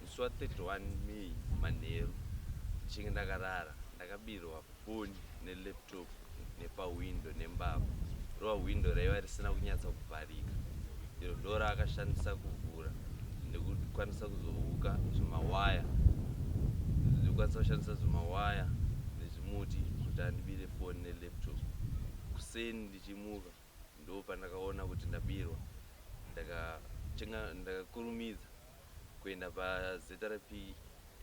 Musi wa 31 May manheru ndichinge ndakarara ndakabirwa foni ne laptop nepa window nembavha. Rova window raiva risina kunyatsa kuvharika iro ndoraakashandisa kuvhura nekukwanisa kuzohuka zvimawaya nekukwanisa kushandisa zvimawaya nezvimuti kuti andibire foni ne laptop. Kuseni ndichimuka Ndopandakaona kuti ndabirwa ndakakurumidza kuenda paZRP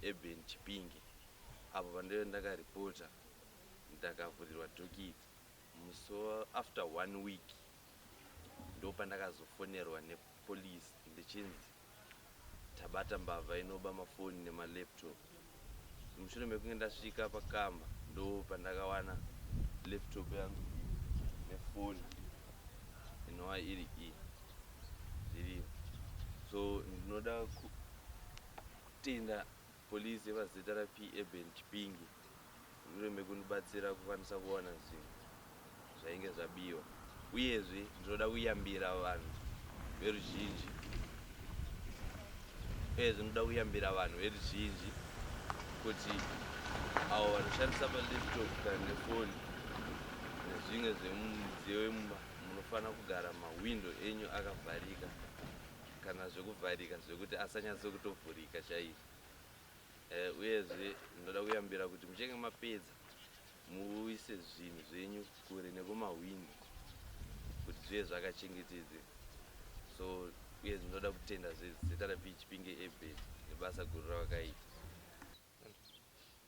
Urban Chipinge apo pandaive ndakareporter ndakavhurirwa dhokidzi musi after one week ndopandakazofonerwa nepolice ndichinzi Tabata mbavha inoba mafoni nemalaptop. Mushure mekunge ndasvika pakamba ndopandakawana laptop yangu nefoni inova iri iyi zviriyo. So ndinoda kutenda Police yepazita ra P-Urban Chipinge mushure mekundibatsira kukwanisa kuwana zvinhu zvainge zvabiwa uyezve ndinoda kuyambira vanhu veruzhinji uyezve ndinoda kuyambira vanhu veruzhinji kuti avo vanoshandisa malaptop kana nefoni nezvimwe zvemumidziyo yemumba munofanira kugara mahwindo enyu akavharika kana zvekuvharika zvekuti asanyatso kutovhurika chaizvo eh, uyezve ndinoda kuyambira kuti muchenge mapedza muise zvinhu zvenyu kure nekumahwindi kuti zvive zvakachengetedze so uye ndinoda kutenda zvezita repichipinge ebet nebasa guru ravakaita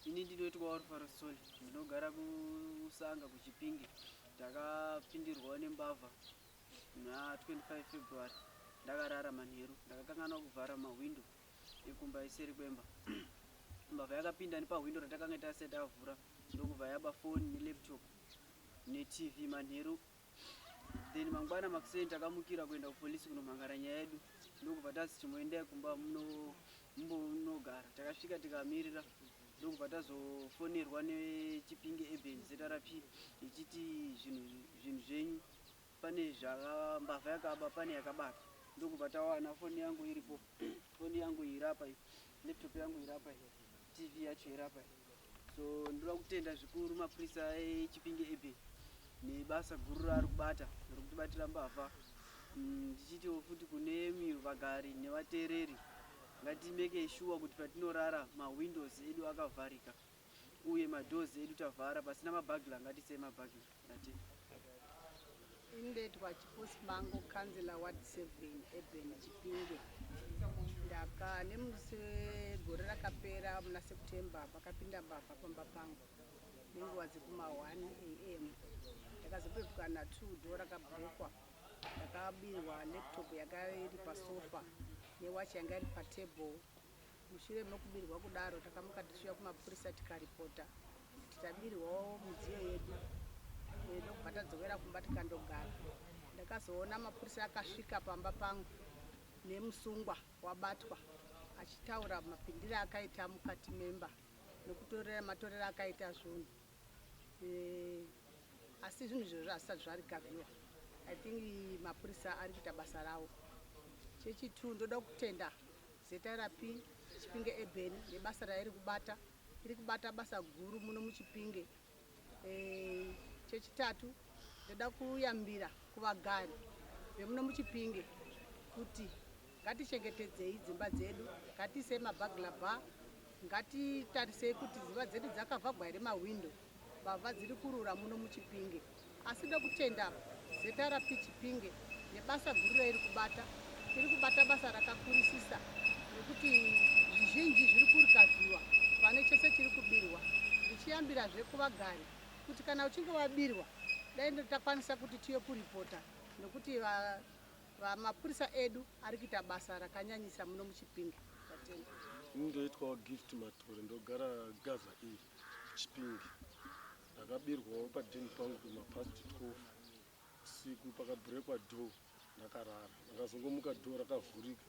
ini ndinoitwa warufaro soli ndinogara kusanga kuchipinge ndakapindirwawo nembavha na25 February ndakarara manheru ndakakanganwa kuvhara mahwindo ekumba iseri kwemba mbavha yakapinda nepahwindo ratakanga tasati avhura ndokubva yaba foni nelaptop netv manheru then mangwana makuseni takamukira kuenda kupolisi kunomhangara nyaya yedu ndokubva tazi chimboendai kumba mumbonogara takasvika tikamirira ndokubva tazofonerwa nechipinge eben zrp ichiti zvinhu zvenyu pane zvaka mbavha yakaba pane yakabata ndokubva tawana foni yangu iripo foni yangu irapa iyi laptop yangu irapa iyi tv yacho irapa iyi so ndoda kutenda zvikuru mapurisa echipinge ebe nebasa guru raari kubata rokutibatira mbavha mm, ndichitiwo futi kune myu vagari nevateereri ngatimeke shuwa kuti patinorara mawindows edu akavharika uye madoors edu tavhara pasina mabagler ngatisei mabagler ndatenda indetwa chiposi mango councilor ward 7 eben chipinge ndaka nemusi wegore rakapera muna september pakapinda mbavha pamba pangu nenguva dzekuma 1 am ndakazopepuka na 2 do rakabrekwa ndakabirwa laptop yanga iri pasofa newachi yanga iri patable Mushure mokubirwa kudaro, takamuka tichiuya kumapurisa tikaripota kuti tabirwawo midziyo yedu eh, ndokubva tadzokera kumba tikandogara. Ndakazoona mapurisa akasvika pamba pangu nemusungwa wabatwa achitaura mapindire akaita mukati memba nekutorera matorera akaita zvinhu. Eh, asi zvinhu izvozvo hazvisati zvaregaviwa i think mapurisa ari kuita basa ravo chechitu ndoda kutenda zrp chipinge eben nebasa rairi kubata iri kubata basa guru muno muchipinge eh, chechitatu ndoda kuyambira kuvagari vemuno muchipinge kuti Ngatichengetedzei dzimba dzedu, ngatiisei maburglar bar, ngatitarisei kuti dzimba dzedu dzakavhagwa here mahwindo. Mbavha dziri kurura muno muChipinge. Asi ndokutenda ZRP Chipinge nebasa guru rairi kubata. Iri kubata basa rakakurisisa nekuti zvizhinji zviri kurikavhiwa pane chese chiri kubirwa. Ndichiyambirazve kuvagari kuti kana uchinge wabirwa dai takwanisa kuti tiye kuripota nekuti Mapurisa edu ari kuita basa rakanyanyisa muno muChipinge. Tatenda. Ini ndoitwawo Gift Matore ndogara Gaza E Chipinge. Ndakabirwawo padheni pangu kuma past 12 usiku pakabhurekwa door ndakarara. Ndakazongomuka door rakavhurika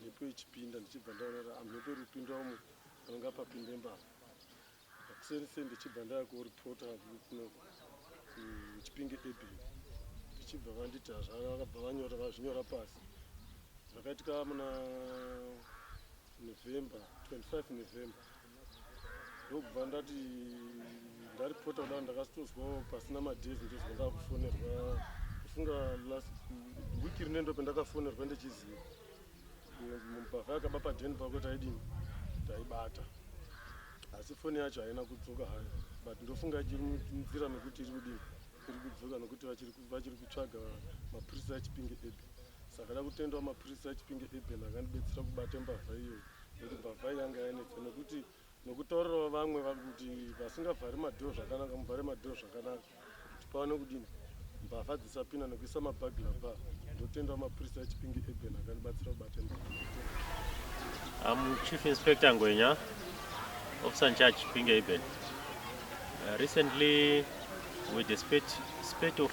mhepo ichipinda ndichibva ndaona kuti ah, mhepo iri kupinda umu panenge papinde mbavha. kuseni seni ndichibva ndava kuripota kuno kuchipinge ebin ndichibva vanditi hazvana vakabva vanyora vazvinyora pasi zvakaitika muna november 25 november ndokubva ndati ndaripota kudava ndakasitozwawo pasina madhezi ndozva ndava kufonerwa kufunga last wiki rine ndo pendakafonerwa ndichiziva Mubhavha yakaba padeni pako taidini taibata asi foni yacho haina kudzoka hayo but ndofunga ichiri nzira mekuti iri kudini iri kudzoka nokuti vachiri kutsvaga mapurisa echipinge ebe saka da kutendawo mapurisa echipinge ebe akandibetsera kubata mbavha iyoyo nekuti mbavha yanga yanetsa nekuti nokutorerawo vamwe kuti vasingavhari madhoo zvakanaka muvhare madhoo zvakanaka kuti paone kudini mbavha dzisapinda nokuisa mabagla ba ndotendawo mapurisa echipingi eben akandibatsira kubata mbavha am chief inspector ngwenya officer in charge chipingi eben uh, recently we dispatch spate of